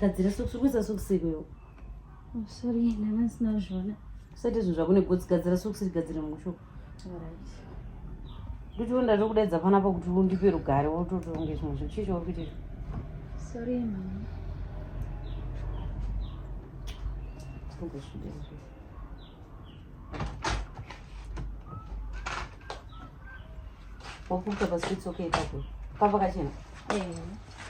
gadzira sokusi uri kuisa sokusi ikwewo oh, sorry ndanga ndisina kuzviona usati izvo zvakune gotsi gadzira sokusi rigadzire mushoko ndotiwo ndatokudaidza panapa kuti undipe rugare wototonge zvimwe zvinhu chii chauri kuita izvo sorry mama tongozvidei Wakuka basi it's okay papo. Papa kachena. Eh.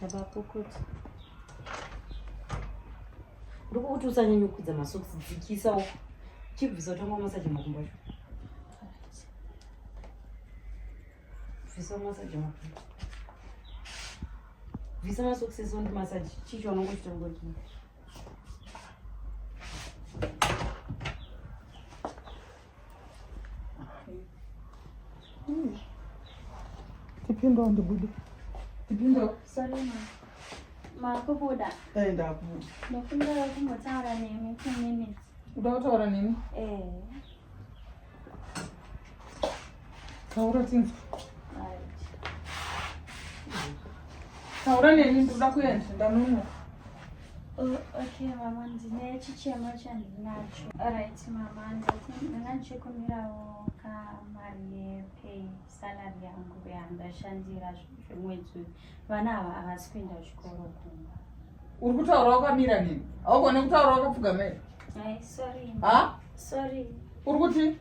Baba pokuti. Ndiko kuti usanyanye kudza masocks dzikisa uko. Chibvisa utanga masaje makumbo acho. Visa masaje makumbo. Visa masocks esondi masaje chicho anongochitongoti. Tipindawo ndibude. Tipindawo. Sorry ma. Makubuda. Eh ndakubuda. Ndofunda kumbotaura nemi 2 minutes. Uda kutaura nemi? Eh. Taura tinzwe. Taura neni ndoda kuenda ndanunwa. Oh, okay mama ndine chichema chandinacho. Alright mama ndanga ndichikumirawo kamari yepay salary yangu yandashandira zvemwedzi uyu. vana ava havasi kuenda kuchikoro kumba uri kutaura wakamira nini haugone kutaura wakapfugamera ha sorry uri kuti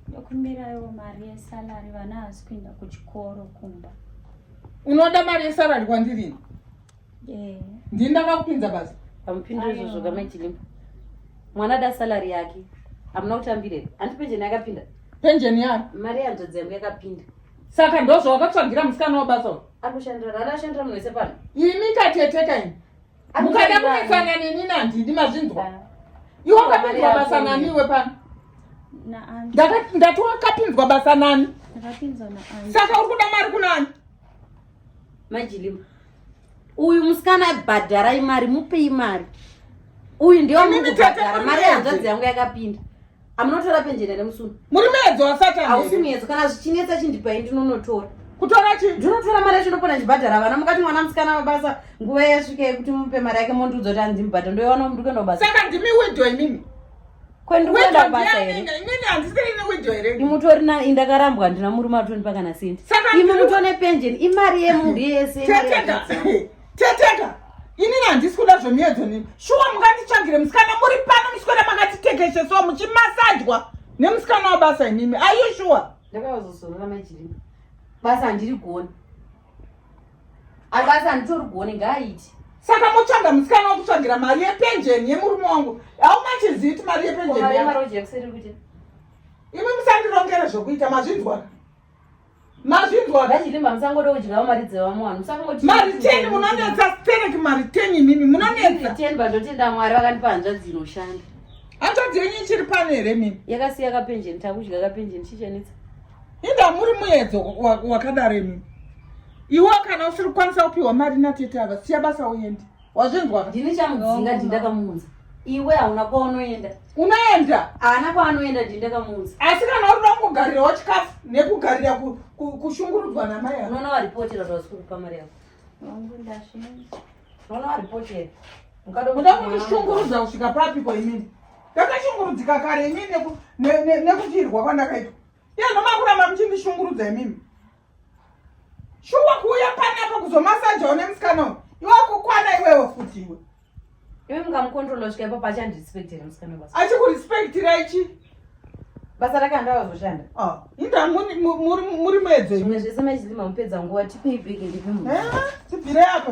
ndokumbirawo mari yesalary vana havasi kuenda kuchikoro kumba unoda mari yesalary kwandirini yeah. ndini ndakakupinza basa amupindure izvozvo kamaichilimba mwana da salary yake amuna kutambirei anti penjeni yakapinda penjeni yake mari yanzvadzi yangu yakapinda saka ndozvawakatsvagira musikana wabasa uyu anoshandira rani ashandira munhu wese pano imi kateteka ini mukada kunetsana neni nandindi mazvinzwa iwe wakapinzwa basa nani iwe pano ndati wakapinzwa basa nani saka uri kuda mari kunani majilima uyu musikana bhadharai mari mupei mari uyu ndiyo mukubhadhara mari yanzvadzi yangu yakapinda amunotora penjeni here musunu muri muedzo wasatani hausi muedzo kana zvichinetsa chindipai ndinonotora kutora chi ndinotora mari yacho ndopona ndibhadhara vana mukati mwana musikana mabasa nguva yasvika yekuti mupe mari yake mondiudza kuti andimubhadha ndoiwana mndu kuenda kubasa saka ndimi wido imimi kwendikuenda kubasa here imini handisirine wido here imutori na indakarambwa ndina murume atonipa kana sendi imi mutone penjeni imari yemunhu yese teteka inini handisi kuda zvemiedzo nini shuwa munganditsvagire musikana muri pano muswera makatitekeshesawo muchimasajwa nemusikana wabasa imimi ayu shuwa ndakazozorora maijiripa basa handiri goni abasa handitori goni ngaaiti saka motsvaga musikana wakutsvagira mari yepenjeni yemurume wangu aumachiziti mari yepenjeni imi musandirongere zvokuita mazvinzwaka mazvinzwa ngachirima musangode kudyawo mari dzevamwe vanhu musangoti mari ten munonetsa sterek mari ten imimi munonetsa ten pandotenda mwari vakandipa hanzvadzi inoshanda hanzvadzi yenyu ichiri pano here mimi yakasiya kapenjeni takudya kapenjeni chichanetsa inda muri muedzo wakadaro imimi iwo kana usiri kukwanisa kupiwa mari natete ava siya basa uende wazvinzwa ndini chamudzinga ndindakamuunza iwe hauna kwaunoenda unoenda haana kwaanoenda ndindakamuunza asi kana urida kungogarirawo chikafu nekugarira kushungurudzwa namai yako unoona waripotera zvasiri kupa mari yako unoona waripotera muda kundishungurudza kusvika papi ko imini ndakashungurudzika kare imini nekutirwa kwandakaitwa yanomakuramba muchindishungurudza imimi shuwa kuuya panapa kuzomasaja une musikana uyu iwe kukwana iwewo futi iwe iwe mukamukontrola svika ipapo achandirespectira musikana basa achikurespectira ichi basa rake andawazoshanda ah, inda muri muedzo zvimwe zvese machizima mupedza nguva tipei bheke ndipe mu eh, tibvire apo